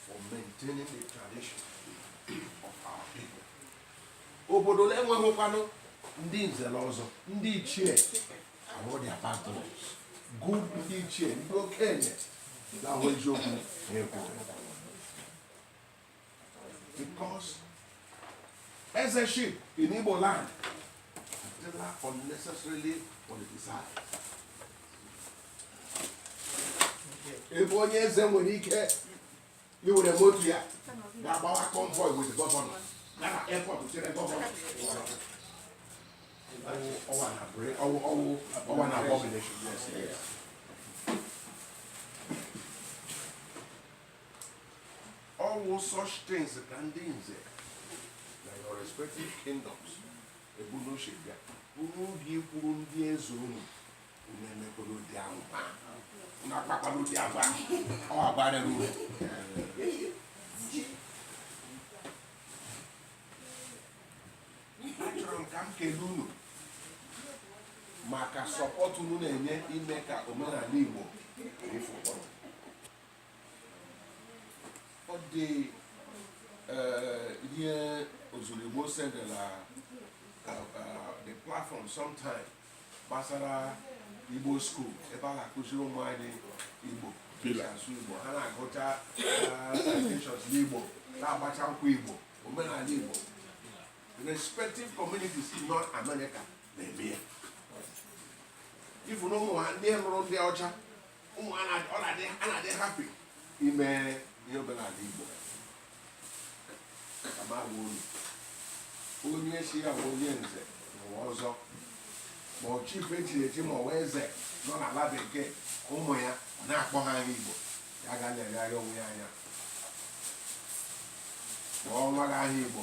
for maintaining the tradition of our people obodo na-enweghịkwanụ ndị nze na ọzọ ndị ichie ahụ their patrons good ndị ichie ndị okenye na-ahụ eziokwu na-ekwu Because ezeship in Igbo land adịla unnecessarily politicized. Ebe onye eze nwere ike iwere moto ya ga-agbawa convoy with governor gaa na airport chere governor ọ wụ an abomination. All such things ka ndị nze na your respective kingdoms ebu n'uche bịa unu ga ikwuru ndị eze unu unu emekwala ụdị ahụ unu akpakwala ụdị ahụ ọ bara uru achọrọ m ka m kelee unu maka support unu na-enye ime ka omenala Igbo efu ụkpọrọ ọ dị eh, ihe ozurigbo sendela eh, eh, the platform sometime gbasara igbo school ebe a na-akụziri ụmụ anyị igbo ịsụ igbo ha na-agụcha recitations n'igbo na-agbacha nkwụ igbo omenala igbo respective communities in north america na-eme ya ị fụ na ụmụ ha ndị lụrụ ndị ọcha ụmụ ha na- ọ na-adị a na-adị happy ime ihe omenala igbo ka m gwa unu onye sị ya wụ onye nze na ọzọ ma ọ chief echiri echi ma ọ wụ eze nọ n'ala bekee ụmụ ya ọ na-akpọ ha aha igbo ya ga na-elegharị onwe ya anya kpọọ nwa gị aha igbo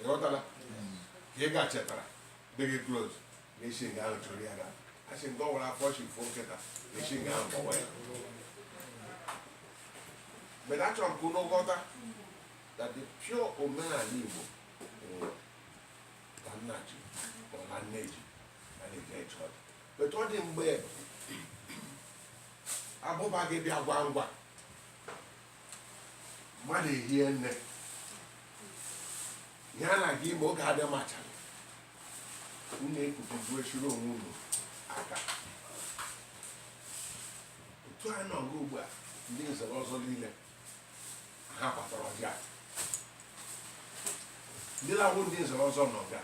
ịghọtala ka ị gachetara dị gị close na-esi nga ahụ chụrụ ya ga asị nke ọ nwere afọ chi foo nkịta na-esi nga ahụ kpọwa ya but achọrọ m ka unu ghọta that the pure omenala igbo nwụrụ ka nna ji ma ọ na nne ji na na-eje ịchọ ọdị but ọ dị mgbe abụba gị bịa ngwa ngwa mmadụ ehie nne ihe a na-aga ime oge adị machara unu ekpukubu echiri onwe unu aka otu a nọ ugbu a ndị nze na ọzọ niile ha kpatara ọjị a ndị na-awụ ndị nze na ọzọ nọ bịa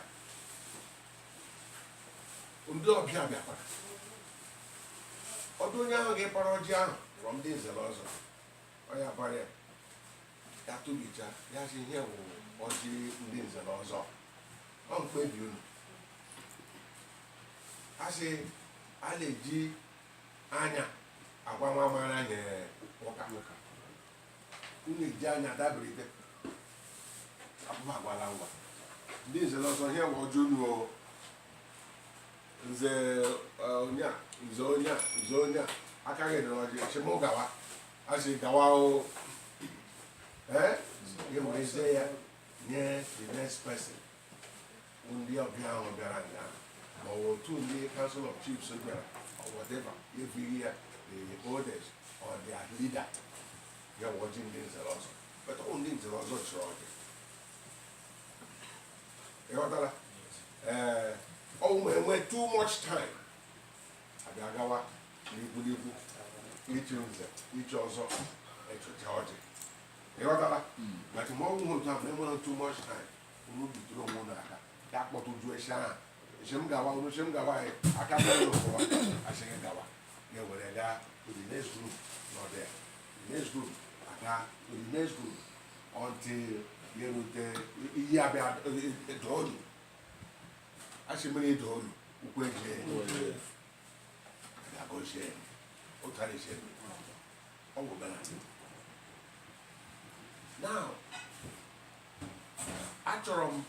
ndị ọbịa bịakwara ọdụ onye ahụ ga-ekpara ọjị ahụ bụ ndị nze na ọzọ ọ ya gbara ya ya tụbicha ya sị ihe wụ ọjị ndị nze na ọzọ ọ mkpebi unu a sị a na-eji anya agwa nwa mara ihe ụka unu eji anya dabirite abụba agwala ngwa ndị nze na ọzọ ihe wụ ọjị unu o nze onye a nze onye a nze onye a aka gị dịrị ọjị sị m gawa a sị gawa o ee gị werezie ya nye the next person bụ ndị ọbịa ahụ bịara nga ma ọ bụ otu ndị council of chiefs bịara or whatever ebunye ya the oldest or their leader ya wụ ọjị ndị nze na ọzọ but ọ wụ ndị nze na ọzọ chịrị ọjị ị ghọtara ee ọ bụ ma enwe too much time abịa gawa n'ikwu n'ikwu ichi nze ichi ọzọ echecha ọjị ị ghọtara but ma ọ bụghị otu ahụ na enwere too much time unu bidoro onwe unu aka ya kpọtụcha echi ahụ sị m gawa unu sị m gawa anyị aka bụrụ ụwa a sị gị gawa gị ewere gaa to the next group nọ there the next group aga to the next group until ya erute iyi abịa dolu a sị mmiri dolu ukwu eji agọzie ụtara ise ọ bụ bela now achọrọ m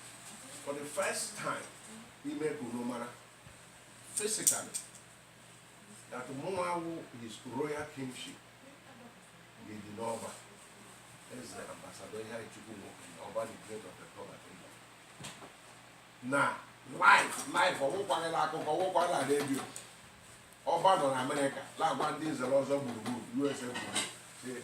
for the first time ime ka unu mara physically that mụnwa wụ his royal kingship idi n'ọba eze ambassador iheanyịchukwu nwokenna ọba the great of ekeọba kingdom na live live ọ wụkwaghịla akụkọ ọ wụkwaghịla redio ọba nọ na amerịka na-agwa ndị nze na ọzọ gburugburu usa gburugburu